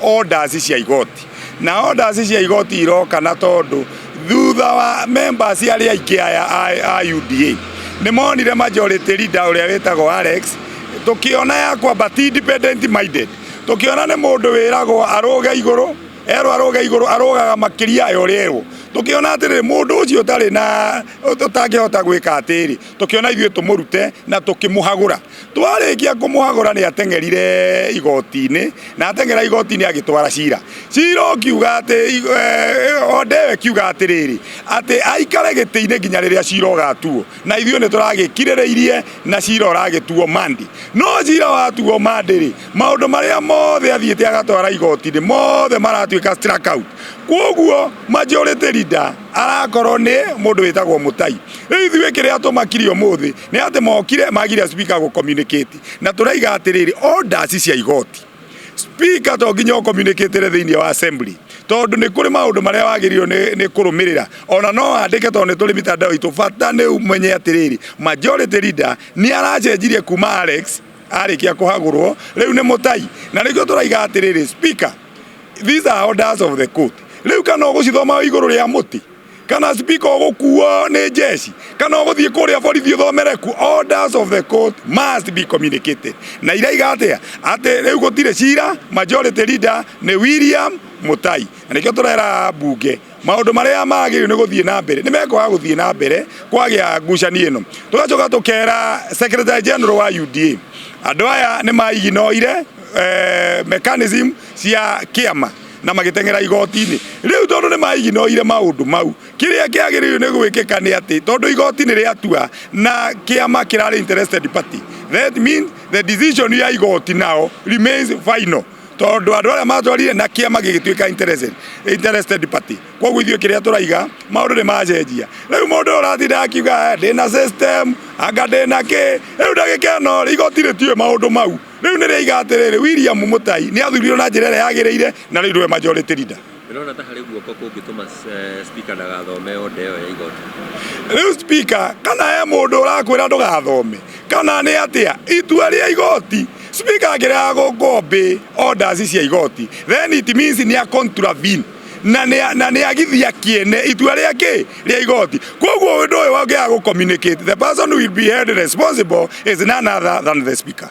orders cia igoti na orders cia igoti iroka na tondu thutha wa members arĩa aingĩ aya a- a UDA nĩ monire majority leader ũrĩa wĩtagwo Alex tukiona ya kwamba ti independent minded tukiona nĩ mũndũ wĩragwo arũge igũrũ erwo arũge igũrũ arũgaga makĩria ya ũrĩa erwo tukiona atĩrĩ mũndũ ũcio ũtarĩ na ũtangĩhota gwĩka atĩrĩ tukiona ithuĩ tũmũrute na tũkĩmũhagũra twarĩkia kũmũhagũra nĩ ateng'erire igoti-inĩ na ateng'era igoti-inĩ agĩtwara cira cira ũkiuga atĩ eh, ondewe kiuga atĩrĩrĩ atĩ aikare gĩtĩ-inĩ nginya rĩrĩa cira ũgatuo na ithuĩ nĩ tũragĩkirĩrĩirie na cira ũragĩtuo mandi no cira watuo mandi rĩ maũndũ marĩa mothe athiĩte agatwara igoti-inĩ mothe maratuĩka strike out kwoguo majority leader arakorwo nĩ mũndũ wĩtagwo mũtai Rĩu ithuĩ kĩrĩa tũmakire ũmũthĩ nĩ atĩ mokire magire speaker gũ communicate na tũraiga atĩrĩrĩ orders cia igoti speaker to nginya ũ communicate thĩinĩ wa assembly tondũ nĩ kũrĩ maũndũ marĩa wagĩrĩirwo nĩ- nĩ kũrũmĩrĩra ona no andĩke tondũ nĩ tũrĩ mitandao itũ bata nĩ ũmenye atĩrĩrĩ majority leader nĩ aracenjirie kuma Alex arĩkia kũhagũrwo rĩu nĩ mũtai na nĩkĩo tũraiga atĩrĩrĩ speaker these are orders of the court rĩu kana ũgũcithoma wĩ igũrũ rĩa mũtĩ kana speaker ũgũkuo nĩ jeshi kana ũgũthiĩ kũrĩa borithi ũthomere ku orders of the court must be communicated na iraiga atĩa atĩ rĩu gũtirĩ cira majority leader nĩ William Mutai na nĩkĩo tũrera mbunge maũndũ marĩa magĩrĩirwo nĩ gũthiĩ na mbere nĩ mekwaga gũthiĩ na mbere kwagĩa ngucanio ĩno tũgacoka tũkera secretary general wa UDA andũ aya nĩ maiginoire eh, mechanism cia kĩama na magĩteng'era igoti-inĩ rĩu tondũ nĩ maiginoire maũndũ mau kĩrĩa kĩagĩrĩirwo nĩ gwĩkĩka nĩ atĩ tondũ igoti nĩ rĩatua na kĩama kĩrarĩ interested party that means the decision ya igoti now remains final tondũ andũ arĩa matwarire na kĩama gĩgĩtuĩka interested, interested party koguo ithuĩ kĩrĩa tũraiga maũndũ nĩ macenjia rĩu mũndũ ũyũ ũratinda akiuga "Eh, ndĩna system anga ndĩna kĩ rĩu ndagĩka ĩno igoti rĩtiũĩ maũndũ mau Rĩu nĩ rĩaiga atĩrĩrĩ, William Mutai nĩ athurirwo na njĩra ĩrĩa yagĩrĩire na rĩu nĩwe majority leader. Ndĩrona ta harĩ guoko kũngĩtũma eh, speaker ndagathome order ĩyo ya igoti. Rĩu speaker kana he mũndũ ũrakwĩra ndũgathome kana nĩ atĩa itua rĩa igoti speaker angĩrega gũkũ obey orders cia igoti then it means nĩ a contravene na nĩ- na nĩ agithia kĩene itua rĩa kĩ rĩa igoti koguo ũndũ ũyũ wangĩaga gũ communicate the person who will be held responsible is none other than the speaker